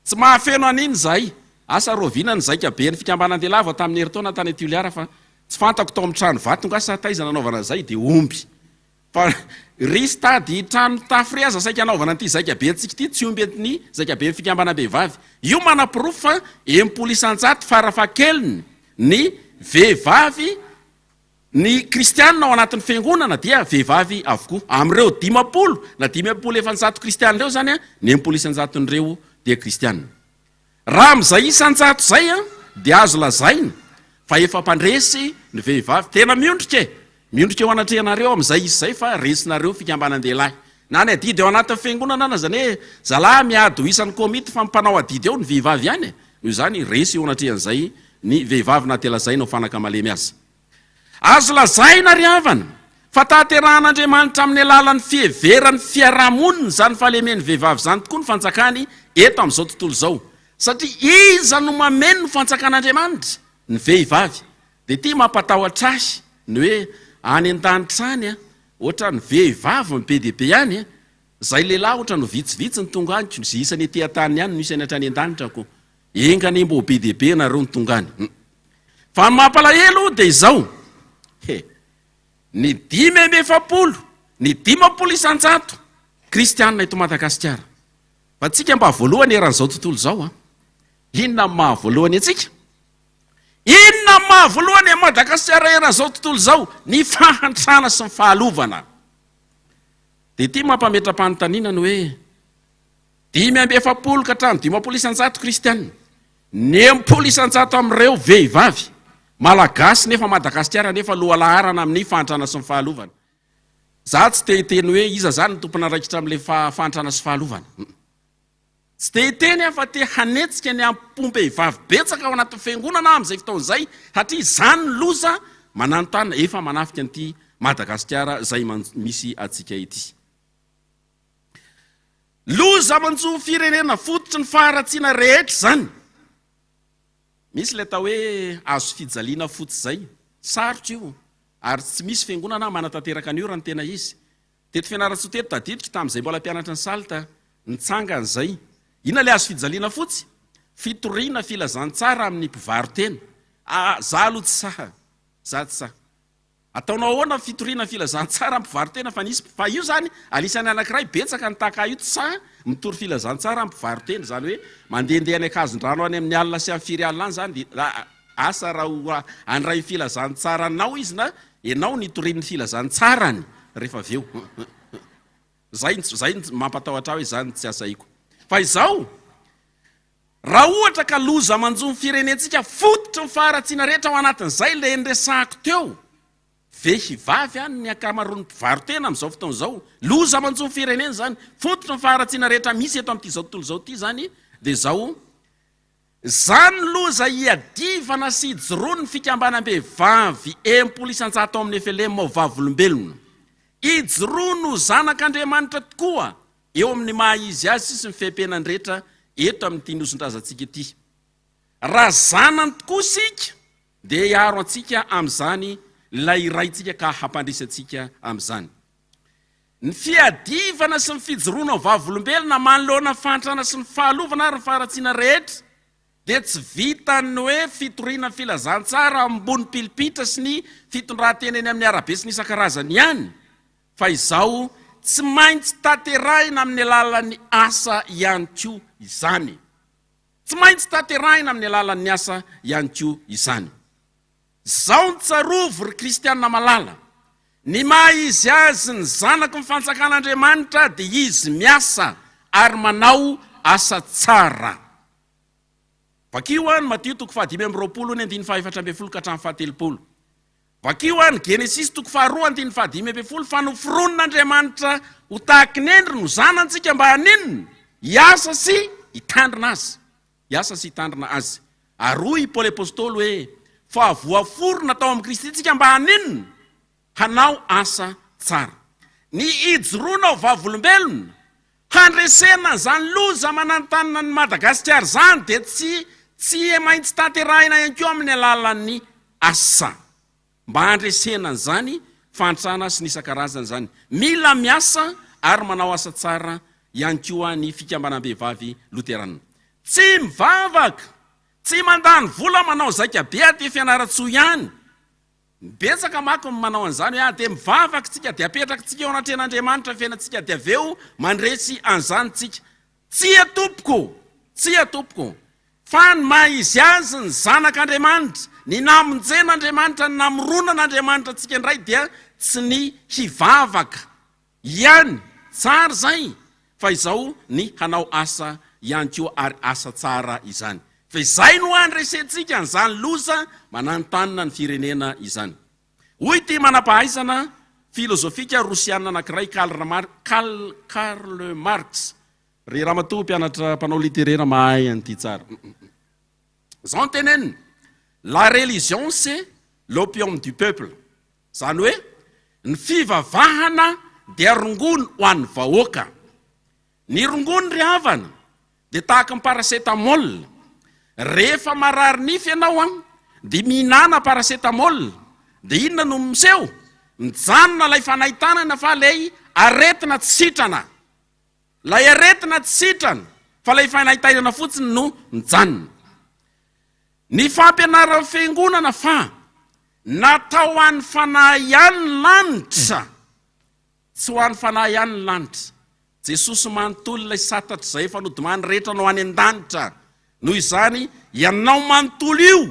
Tsy mahafeno an'iny izahay. Asa rahoviana ny zaika ben'ny fikambanan-dehilahy vao tamin'ny herintaona tany Toliara fa tsy fantako tao amin'ny trano vato angaha sa taiza nanaovana izay dia omby. Fa risy tady trano mitafo re aza saika anaovana an'ity zaika bentsika ity tsy omby an'ny zaika ben'ny fikambanam-behivavy. Io manaporofo fa enim-polo isan-jato farafahakeliny ny vehivavy Ny kristiana ao anatin'ny fiangonana dia vehivavy avokoa. Amin'ireo dimampolo na dimy amby folo efanjato kristiana ireo izany, ny enimpolo isan-jaton'ireo dia kristiana. Raha amin'izay isan-jato izay dia azo lazaina fa efa mpandresy ny vehivavy tena miondrika e! Miondrika eo anatrehanareo amin'izay izy izay fa resinareo fikambanan-dehilahy. Na ny adidy ao anatin'ny fiangonana na izany hoe zalahy miady ho isan'ny komity fa ny mpanao adidy ao ny vehivavy ihany e! Noho izany resy eo anatrehan'izay ny vehivavy na dia lazaina ho fanaka malemy aza. Azo lazaina ry havana fa tanterahan'Andriamanitra amin'ny alalan'ny fiheveran'ny fiarahamonina izany fahalemen'ny vehivavy izany tokoa ny fanjakany eto amin'izao tontolo izao satria iza no mameno ny fanjakan'Andriamanitra? Ny vehivavy. Dia ity mampatahotra ahy ny hoe any an-danitra any Otrany vehivavy no be dia be any e! Zay lehilahy otrany ho vitsivitsy ny tonga any ko ze isany ety an-tany ihany no isany hatrany an-danitra ko! Enga anie mba ho be dia be ianareo ny tonga any hum! Fa ny mampalahelo dia izao he! Ny dimy amby efapolo, ny dimampolo isan-jato kristianina eto Madagasikara! Fa antsika mba voalohany eran'izao tontolo izao an! Inona no maha voalohany antsika? Inona no maha voalohany an'i Madagasikara eran'izao tontolo izao? Ny fahantrana sy ny fahalovana. Dia ity mampametra-panontaniana ny hoe, dimy amby efapolo ka hatramin'ny dimampolo isan-jato kristiana, ny enimpolo isan-jato amin'ireo vehivavy, Malagasy nefa Madagasikara nefa lohalaharana amin'ny fahantrana sy ny fahalovana. Izaho tsy te hiteny hoe iza izany no tompon'andraikitra amin'ilay fahantrana sy fahalovana. Tsy dia hiteny aho fa te hanetsika ny ampom-behivavy betsaka ao anatin'ny fiangonana aho amin'izay fotoana izay, satria izany ny loza mananontanona efa manafika an'ity Madagasikara izay misy antsika ity. Loza manjo firenena fototry ny faharatsiana rehetra izany. Misy ilay atao hoe azo fijaliana fotsy izay, sarotra io, ary tsy misy fiangonana manatanteraka an'io raha ny tena izy, Teto Fianarantsoa teto tadidiko tamin'izay mbola mpianatra ny salt nitsanga an'izay. Inona ilay azo fijaliana fotsy? Fitoriana, filazantsara amin'ny mpivaro-tena. Ah, za aloha tsy sahy. Za tsy sahy. Ataonao ahoana fitoriana, filazantsara amin'ny mpivaro-tena fa nisy, fa io zany anisan'ny anankiray betsaka ny tahaka ahy io tsy sahy mitory filazantsara amin'ny mpivaro-tena, izany hoe mandehandeha any ankazondrano any amin'ny alina sy amin'ny firy alina any zany dia asa raha ho an'irayfilazantsara anao izy na Enao ny torian'ny filazantsarany rehefa avy eo. Zay zay ny mampatahotra ahy hoe zany no tsy asaiko. Fa izao, raha ohatra ka loza manjo ny firenentsika fototry ny faharatsiana rehetra ao anatin'izay le nresahako teo, vehivavy any ny ankamaroan'ny mpivaro-tena amin'izao fotoana izao, loza manjo ny firenena izany, fototry ny faharatsiana rehetra misy eto amin'ity izao tontolo izao ity izany dia izao Izany loza hiadivana sy hijoroan'ny fikambanam-behivavy enimpolo isan-jato ao amin'ny FLM ao Vavolombelona. Ijoroany ho zanak'Andriamanitra tokoa eo amin'ny maha izy azy sisa ny fepenan dretra eto amin'ity nosin-drazantsika ity. Raha zanany tokoa isika dia hiaro antsika amin'izany ilay Raintsika ka hampandresy antsika amin'izany. Ny fiadivana sy ny fijoroana ho vavolombelona manoloana ny fahantrana sy ny fahalovana ary ny faharatsiana rehetra dia tsy vitan'ny hoe fitoriana ny filazantsara ambony pilipitra sy ny fitondrantena eny amin'ny arabe sy ny isan-karazany ihany fa izao tsy maintsy tanterahina amin'ny alalan'ny asa ihany koa izany. Tsy maintsy tanterahina amin'ny alalan'ny asa ihany koa izany. Zao no tsarovy ry kristiana malala, ny maha izy azy ny zanaky ny fanjakan'Andriamanitra dia izy miasa ary manao asa tsara. Vakio any Matio toko fahadimy amby roapolo ny andininy fahefatra ambin'ny folo ka hatramin'ny fahatelopolo. Vakio any Genesisy toko faharoa andininy fahadimy ambin'ny folo fa noforonin'Andriamanitra ho tahaky ny endriny ho zanantsika mba haninona? hiasa sy hitandrina azy. Hiasa sy hitandrina Azy. Ary hoy i Paoly Apostoly hoe, Fa voaforona tao amin'i Kristy isika mba haninona? Hanao asa tsara. Ny hijoroana ho vavolombelona, handresena an'izany loza mananontanona an'i Madagasikara izany dia tsy tsy maintsy tanterahina ihany koa amin'ny alalan'ny asa. mba handresena an'izany fahantrana sy ny isan-karazany izany. Mila miasa ary manao asa tsara ihany koa ny fikambanam-behivavy loteranina. Tsy mivavaka, tsy mandany vola manao zaika be aty Fianarantsoa ihany. Betsaka manko ny manao an'izany hoe ah dia mivavaka tsika dia apetraky tsika eo anatrehan'Andriamanitra ny fiainantsika dia avy eo mandresy an'izany tsika. Tsia tompoko! Tsia tompoko! Fa ny maha izy azy ny zanak' Andriamanitra, ny namonjen' Andriamanitra, ny namoronan' Andriamanitra antsika indray dia tsy ny hivavaka ihany, tsara izay, fa izao ny hanao asa ihany koa, ary asa tsara izany. Fa izay no handresentsika an'izany loza mananontanona ny firenena izany. Hoy ity manam-pahaizana filozofika rosiana anankiray, Karl Marx, Ry ramatoa mpianatra mpanao literera mahay an'ity tsara. Izao no teneniny, La religion c'est l'opium du peuple. Izany hoe, ny fivavahana dia rongony ho an'ny vahoaka. Ny rongony ry havana dia tahaka ny paracetamol, rehefa marary nify ianao an dia mihinana paracetamol dia inona no miseho? Mijanona ilay fanahy tanana fa ilay aretina tsy sitrana, ilay aretina tsy sitrana fa ilay fanahy tainana fotsiny no mijanona. Ny fampianaran'ny fiangonana fa natao ho an'ny fanahy ihany ny lanitra. Tsy ho an'ny fanahy ihany ny lanitra. Jesosy manontolo ilay satatra izay efa nodimany rehetra no any an-danitra. Noho izany, ianao manontolo io,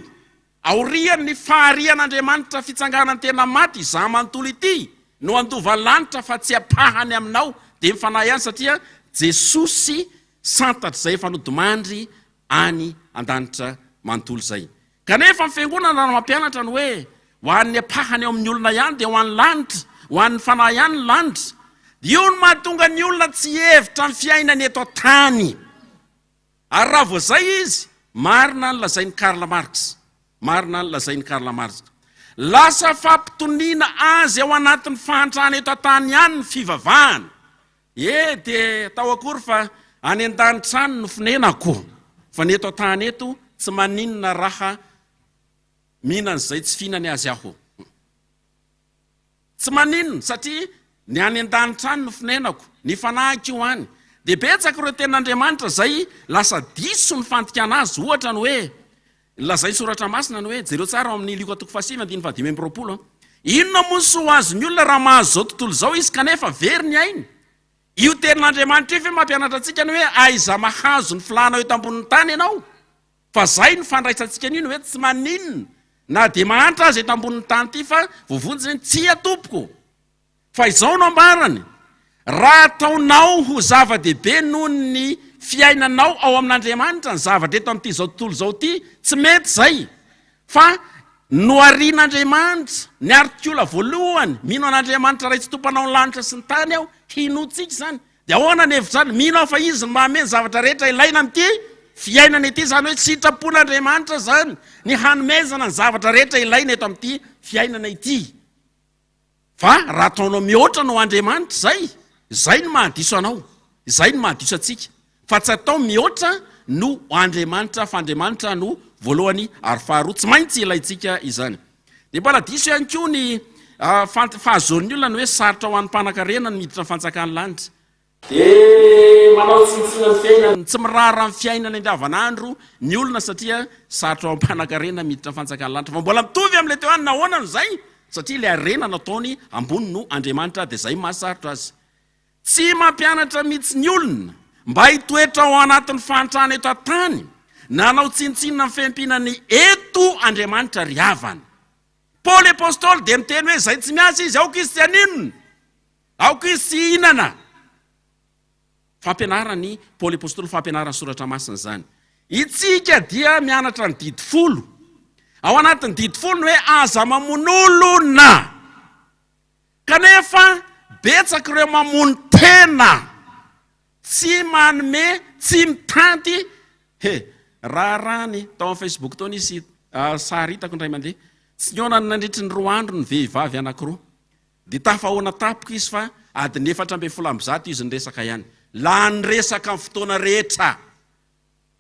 aorian'ny faharian'Andriamanitra fitsanganany tena maty, izaho manontolo ity no handova ny lanitra fa tsy ampahany aminao dia ny fanahy ihany satria Jesosy santatr' izay efa nodimandry any an-danitra manontolo izay. Kanefa ny Fiangonana raha mampianatra ny hoe ho an'ny ampahany ao amin'ny olona ihany dia ho an'ny lanitra, ho an'ny fanahy ihany ny lanitra, dia io no mahatonga ny olona tsy hihevitra ny fiainany eto an-tany. Ary raha vao izay izy, marina ny lazain'i Karl Marx, marina ny lazain'i Karl Marx, lasa fampitoniana azy ao anatin'ny fahantrana eto an-tany ihany ny fivavahana, He dia tao akory fa any an-danitra any no fonenako, fa ny eto an-tany eto tsy maninona raha mihinana izay tsy fihinany azy aho. Tsy maninona satria ny any an-danitra any no fonenako, ny fanahiko io any. Dia betsaka ireo tenin'Andriamanitra izay lasa diso ny fandikana azy, ohatra ny hoe Lazain'ny Soratra Masina ny hoe, jereo tsara ao amin'ny Lioka toko fahasivy andininy fahadimy amby roapolo an. Inona moa ny soa ho azon'ny olona raha mahazo izao tontolo izao izy kanefa very ny ainy? Io Tenin'Andriamanitra io ve mampianatra antsika ny hoe aiza mahazo ny filànao eto ambonin'ny tany ianao? Fa izay no fandraisantsika an'io ny hoe tsy maninona na dia mahantra aza eto ambonin'ny tany ity fa voavonjy ny hoe tsia tompoko. Fa izao no ambarany, Raha ataonao ho zava-dehibe noho ny fiainanao ao amin'Andriamanitra ny zavatra eto amin'ity izao tontolo izao ity, tsy mety izay. Fa noharian'Andriamanitra, ny artiola voalohany, Mino an'Andriamanitra Ray sy Tompanao ny lanitra sy ny tany aho, hinoantsika izany. Dia ahoana ny hevitrany? Mino aho fa Izy no mahamey ny zavatra rehetra ilaina amin'ity fiainana ity, izany hoe sitrapon'Andriamanitra izany ny hanomezana ny zavatra rehetra ilaina eto amin'ity fiainana ity. Fa raha ataonao mihoatra anao Andriamanitra, izay, izay no mahadiso anao, izay no mahadiso antsika. Fa tsy atao mihoatra no Andriamanitra, fa Andriamanitra no voalohany ary faharoa. Tsy maintsy ilaintsika izany. Dia mbola diso ihany koa ny fahazoan'ny olona ny hoe sarotra ho an'ny mpanankarena ny miditra ny fanjakan'ny lanitra. Dia manao tsinontsinona ny fiainana. Tsy miraharaha ny fiainana andavanandro ny olona satria sarotra ao am-panankarena miditra ny fanjakan'ny lanitra fa mbola mitovy amin'ilay teo ihany nahoana no izay? Satria ilay harena nataony ambony no Andriamanitra dia izay mahasarotra azy. Tsy mampianatra mihitsy ny olona mba hitoetra ao anatin'ny fahantrana eto an-tany na hanao tsinontsinona ny fiaimpiana ny eto Andriamanitra ry havana. Paoly apostoly dia miteny hoe izay tsy miasa izy aoka izy tsy haninona. Aoka izy tsy hihinana. Fampianaran'i Paoly Apostoly, fampianaran'ny Soratra Masina izany. Isika dia mianatra ny Didy Folo. Ao anatin'ny Didy Folo ny hoe aza mamono olona. Kanefa betsaka ireo mamono tena, tsy manome, tsy mitanty. He, raharahany tao amin'ny Facebook tao nisy sary hitako indray mandeha. Tsy nihaona nandritry ny roa andro ny vehivavy anankiroa. Dia tafahaona tampoka izy fa adiny efatra ambin'ny folo amby zato izy niresaka ihany. Lany resaka ny fotoana rehetra.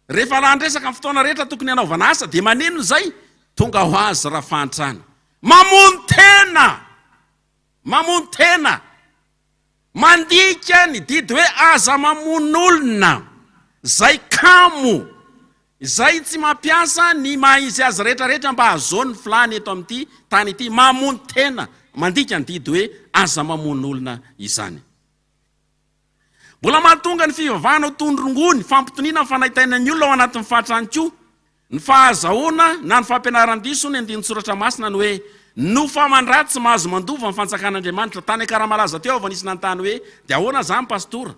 Rehefa lany resaka ny fotoana rehetra tokony hanaovana asa dia maneno izay tonga ho azy raha fahantrana. Mamono tena! Mamono tena! Mandika ny didy hoe aza mamono olona! Izay kamo! Izay tsy mampiasa ny maha izy azy rehetra rehetra mba hahazoany ny filàny eto amin'ity tany ity, mamono tena, mandika ny didy hoe aza mamono olona izany. Mbola mahatonga ny fivavahana ho toy ny rongony, fampitoniana ny fanaintainan'ny olona ao anatin'ny fatra ihany koa ny fahazahoana na ny fampianaran-diso ny andinin-tsoratra masina ny hoe no fa mandratsy mahazo mandova ny fanjakan'Andriamanitra. Tany Akaramalaza teo aho vao nisy nanontany hoe dia ahoana izany Pastora?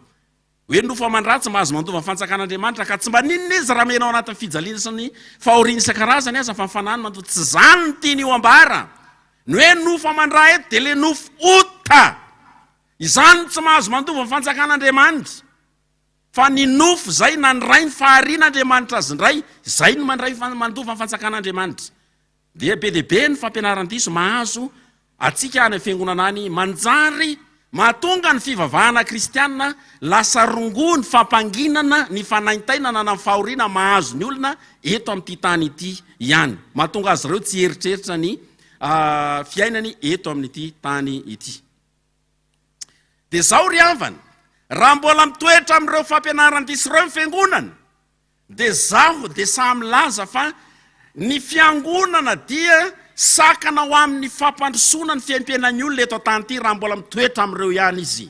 Hoe nofo aman-dratsy mba azo mandova ny fantsakan'Andriamanitra ka tsy mba n'inona izy raha mihena ao anatin'ny fijaliana sy ny fahoriana isan-karazany aza fa ny fanahiny matoa tsy izany no tiany ho ambara. Ny hoe nofo aman-dra eto dia ilay nofo ota. Izany no tsy mahazo mandova ny fantsakan'Andriamanitra. Fa ny nofo izay nandray ny faharian'Andriamanitra azy indray, izay no mandray mandova ny fantsakan'Andriamanitra. Dia be dia be ny fampianaran-diso mahazo antsika any amin'ny fiangonana any, manjary mahatonga ny fivavahana kristiana lasa rongony fampanginana ny fanaintainana na ny fahoriana mahazo ny olona eto amin'ity tany ity ihany. Mahatonga azy ireo tsy hieritreritra ny fiainany eto amin'ity tany ity. Dia izao ry havana, raha mbola mitoetra amin'ireo fampianaran-diso ireo ny fiangonana, Dia zaho dia sahy milaza fa ny fiangonana dia sakana ho amin'ny fampandrosoana ny fiaimpiainan'ny olona eto an-tany ity raha mbola mitoetra amin'ireo ihany izy.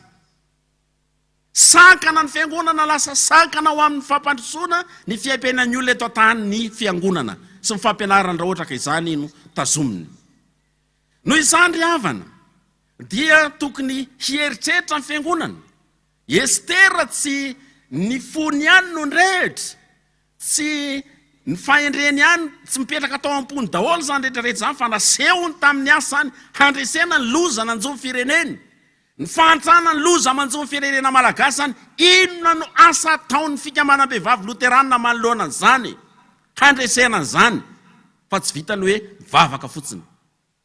Sakana ny fiangonana lasa sakana ho amin'ny fampandrosoana ny fiaimpiainan'ny olona eto an-tany ny fiangonana sy ny fampianarany raha ohatra ka izany no tazominy. Noho izany ry havana dia tokony hieritreritra ny fiangonana Estera tsy ny fony ihany no nirehitra, tsy ny fahendreny ihany, tsy mipetraka tao am-pony daholo izany rehetra rehetra izany fa nasehony tamin'ny asa izany handresena ny loza nanjo ny fireneny, ny fahantrana ny loza manjo ny firenena malagasy izany, inona no asa ataon'ny fikambanam-behivavy loterana manoloana an'izany handresena an'izany fa tsy vitan'ny hoe mivavaka fotsiny.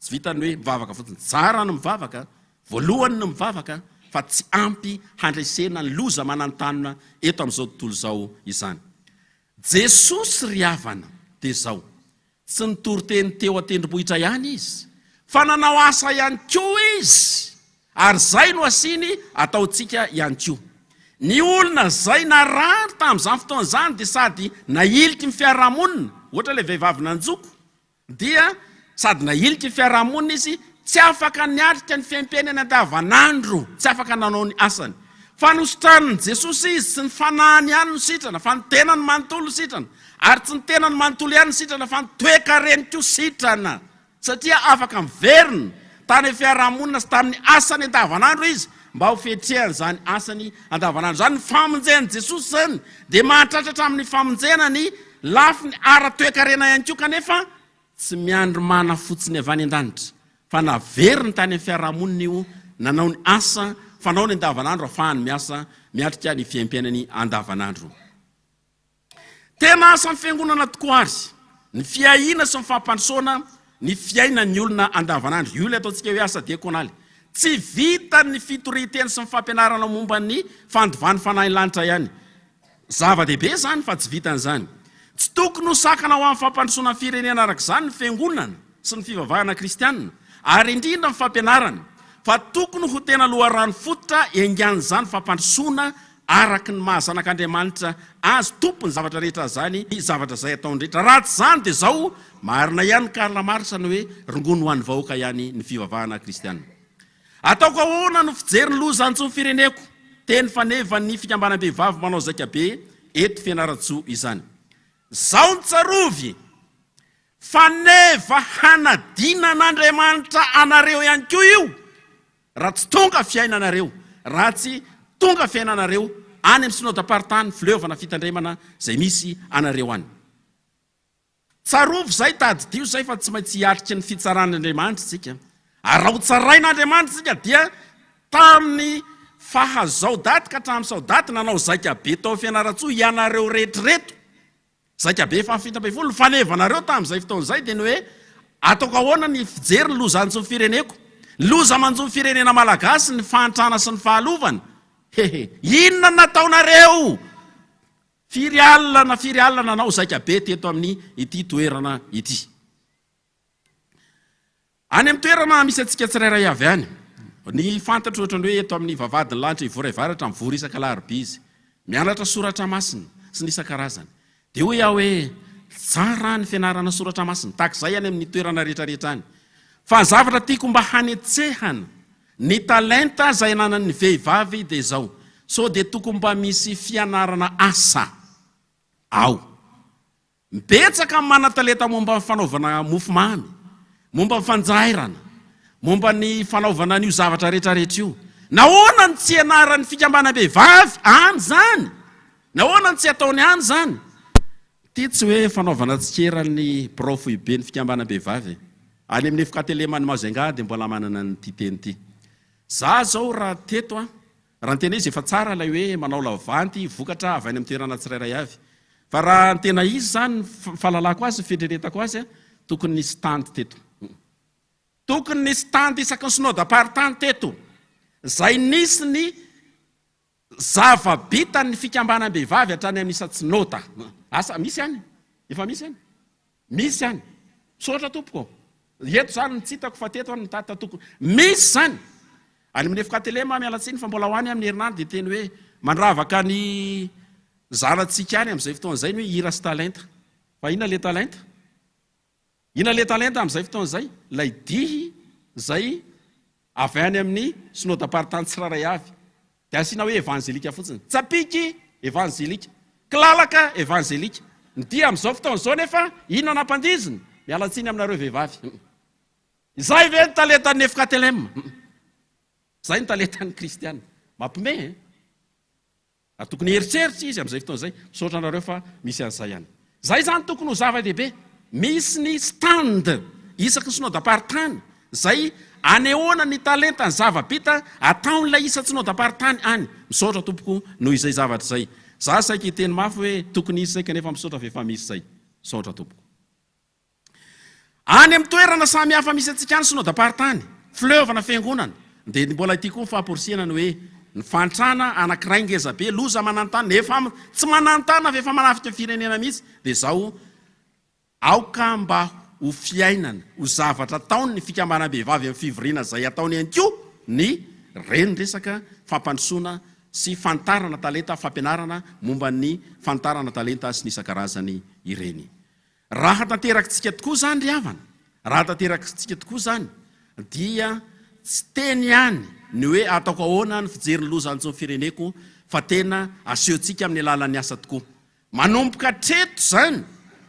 Tsy vitan'ny hoe mivavaka fotsiny. Tsara ny mivavaka, voalohany ny mivavaka, fa tsy ampy handresena ny loza mananontanona eto amin'izao tontolo izao izany. Jesosy ry havana dia izao, tsy nitory teny teo an-tendrombohitra ihany Izy, fa nanao asa ihany koa Izy, ary izay no asiany ataontsika ihany koa. Ny olona izay narary tamin'izany fotoana izany dia sady nahiliky ny fiarahamonina, ohatra ilay vehivavy nanjoko, dia sady nahilika ny fiarahamonina izy, tsy afaka niatrika ny fiaimpiainany andavanandro, tsy afaka nanao ny asany. Fa nositranin'i Jesosy izy, tsy ny fanahiny ihany no sitrana, fa ny tenany manontolo no sitrana, ary tsy ny tenany manontolo ihany no sitrana, fa ny toekareny koa sitrana, satria afaka miverina tany amin'ny fiarahamonina sy tamin'ny asany andavanandro izy, mba ho fiatrehany izany asany andavanandro izany. Ny famonjen'i Jesosy izany dia mahatratra hatramin'ny famonjena ny. Lafiny ara-toekarena ihany koa kanefa tsy miandry mana fotsiny avy any an-danitra fa naveriny tany amin'ny fiarahamonina io nanao ny asa fanaony andavanandro afahany miasa miatrika ny fiaimpiainany andavanandro. Tena asan'ny fiangonana tokoa ary ny fiahiana sy ny fampandrosoana ny fiainan'ny olona andavanandro. Io ilay ataontsika hoe asa diakonaly. Tsy vitan'ny fitorian-teny sy ny fampianarana momba ny fandovan'ny fanahin'ny lanitra ihany. Zava-dehibe izany fa tsy vitan'izany. Tsy tokony ho sakana ho amin'ny fampandrosoana ny firenena araka izany ny Fiangonana sy ny fivavahana kristianina, ary indrindra ny fampianarana, fa tokony ho tena loharano fototra iangan'izany fampandrosoana araka ny maha zanak'Andriamanitra azy tompon'ny zavatra rehetra azany ny zavatra izay ataony rehetra. Raha tsy izany dia izao, marina ihany Karl Marx ny hoe rongony ho an'ny vahoaka ihany ny fivavahana kristianina. Ataoko ahoana no fijery ny loza antsoin'ny fireneko? Teny fanevan'ny fikambanam-behivavy manao zaika be eto Fianarantsoa izany. Zao ny tsarovy, Faneva hanadinan'Andriamanitra anareo ihany koa io raha tsy tonga fiainanareo, raha tsy tonga fiainanareo any amin'ny Synodam-paritany Fileovana Fitandremana izay misy anareo any. Tsarovy izay, tadidio izay fa tsy maintsy hiatrika ny fitsaran'Andriamanitra isika. Ary raha hotsarain'Andriamanitra isika dia tamin'ny faha zao daty ka hatramin'ny sao daty nanao zaika be tao Fianarantsoa ianareo rehetra ireto. Zaika be faha fito ambin'ny folo. Ny fanevanareo tamin'izay fotoana izay dia ny hoe ataoko ahoana ny fijery ny loza hanjo ny fireneko. Ny loza manjo ny firenena malagasy ny fahantrana sy ny fahalovana. He he. Inona no nataonareo Firy alina na firy alina nanao zaika be teto amin ity toerana ity. Any amin'ny toerana misy antsika tsirairay avy any. Ny fantatro ohatran'ny hoe eto amin'ny vavahadin'ny lanitra Ivoray Varatra mivory isaka alarobia izy. Mianatra soratra masina sy ny isan-karazany. Dia hoy aho hoe tsara ny fianarana soratra masina tahaka izay any amin'ny toerana rehetra rehetra any. Fa ny zavatra tiako mba hanetsehana Ny talenta izay ananan'ny vehivavy dia izao, sao dia tokony mba misy fianarana asa ao. Betsaka ny manan-talenta momba ny fanaovana mofomamy, momba ny fanjairana, momba ny fanaovana an'io zavatra rehetrarehetra io. Nahoana no tsy ianaran'ny fikambanam-behivavy any izany? Nahoana no tsy ataony any izany? Ity tsy hoe fanaovana tsikera ny birao foiben'ny fikambanam-behivavy e! Any amin'ny FKTLM-n'i Majunga dia mbola manana an'ity teny ity. Za zao raha teto an! Raha ny tena izy efa tsara ilay hoe manao lavanty vokatra avy any amin'ny toerana tsirairay avy. Fa raha ny tena izy izany ny fahalalako azy, ny fieritreretako azy an! Tokony nisy stand teto. Tokony nisy stand isaky ny synodam-paritany teto. Izay nisy ny. Zava-bitan'ny fikambanam-behivavy hatrany amin'ny isa-tsinôda. Asa misy any? Efa misy any? Misy any. Misaotra tompoko. Eto zany no tsy hitako fa teto any no tata tokony. Misy zany. Any amin'ny Efkatelema aho miala tsiny fa mbola ho any amin'ny herinandro dia teny hoe mandravaka ny zanatsika any amin'izay fotoana izay ny hoe hira sy talenta. Fa inona ilay talenta? I Naletalen tamin'izay fotoana izay, ilay dihy izay avy any amin'ny Synodam-paritany tsirairay avy, dia asiana hoe Evanjelika fotsiny. Tsapiky, Evanjelika. Kilalaka, Evanjelika. Ny dihy amin'izao fotoana izao anefa, inona nampandiziny? Miala tsiny aminareo vehivavy. Izay ve ny talentan'ny Nefkatelem? Izay ny talentan'ny Kristiana. Mampime eh! Ary tokony hieritreritra izy amin'izay fotoana izay, misaotra anareo fa misy an'izay ihany. Izay izany tokony ho zava-dehibe. Misy ny stand isaky ny synodam-paritany izay anehoana ny talenta, ny zava-bita ataon'ilay isan-tsinodam-paritany any. Misaotra tompoko noho izay zavatra izay. Za saika hiteny mafy hoe tokony hisy izay kanefa misaotra f'efa misy izay. Misaotra tompoko. Any amin'ny toerana samy hafa misy antsika any Synodam-paritany, Fleuve na Fiangonana, dia ny mbola ity koa ny fahaporisihana ny hoe, ny fahantrana anankiray ngeza be, loza mananontanona, efa tsy mananontanona fa efa manafika ny firenena mihitsy, dia izao, aoka mba ho fiainana, ho zavatra ataon'ny fikambanam-behivavy amin'ny fivoriana izay ataony ihany koa ny renin-dresaka fampandrosoana sy fanitarana talenta, fampianarana momba ny fanitarana talenta sy ny isan-karazany ireny. Raha tanterakintsika tokoa izany ry havana, raha tanterakintsika tokoa izany, dia tsy teny ihany ny hoe ataoko ahoana ny fijery ny loza antsoin'ny fireneko fa tena asehontsika amin'ny alalan'ny asa tokoa. Manomboka hatreto izany,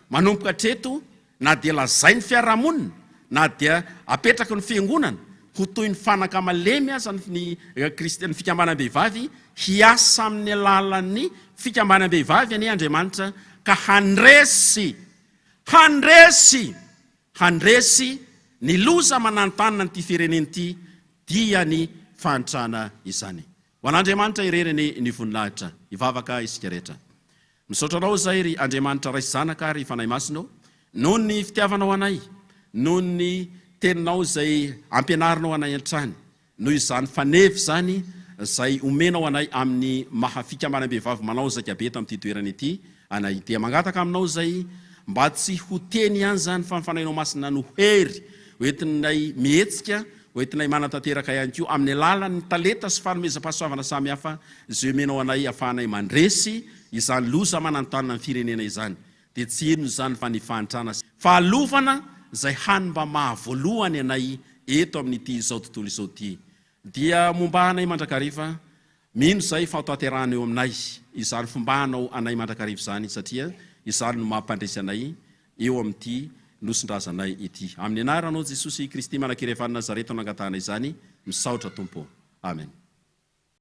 manomboka hatreto, na dia lazain'ny fiarahamonina, na dia apetraky ny fiangonana ho toy ny fanaka malemy aza ny ny fikambanam-behivavy Hiasa amin'ny alalan'ny fikambanam-behivavy anie Andriamanitra ka handresy, handresy, handresy ny loza mananontanona an'ity firenena ity, dia ny fahantrana izany. Ho an'Andriamanitra irery anie ny voninahitra. Hivavaka isika rehetra. Misaotra Anao izahay, ry Andriamanitra Ray sy Zanaka ary Fanahy Masina ô, noho ny fitiavanao anay, noho ny Teninao izay ampianarinao anay hatrany. Noho izany faneva izany izay omenao anay amin'ny maha fikamanam-behivavy manao zaika be eto amin'ity toerana ity anay dia mangataka aminao izay mba tsy ho teny ihany izany fa ny Fanahinao Masina no hery hoentinay mihetsika, hoentinay manatanteraka ihany koa amin'ny alalan'ny talenta sy fanomezam-pahasoavana samihafa izay omenao anay afahanay mandresy izany loza mananontanona ny firenena izany. dia tsy inona izany fa ny fahantrana sy fahalofana izay hany mba maha voalohany anay eto amin'ity izao tontolo izao ity dia momba anay mandrakariva mino izay fa hotanterahana eo aminay izany fomba hanao anay mandrakariva izany satria izany no mampandresy anay eo amin'ity nosin-drazanay ity amin'ny anaranao Jesosy Kristy Manakirevan'i Nazareta no angatahanay izany misaotra Tompo Amen.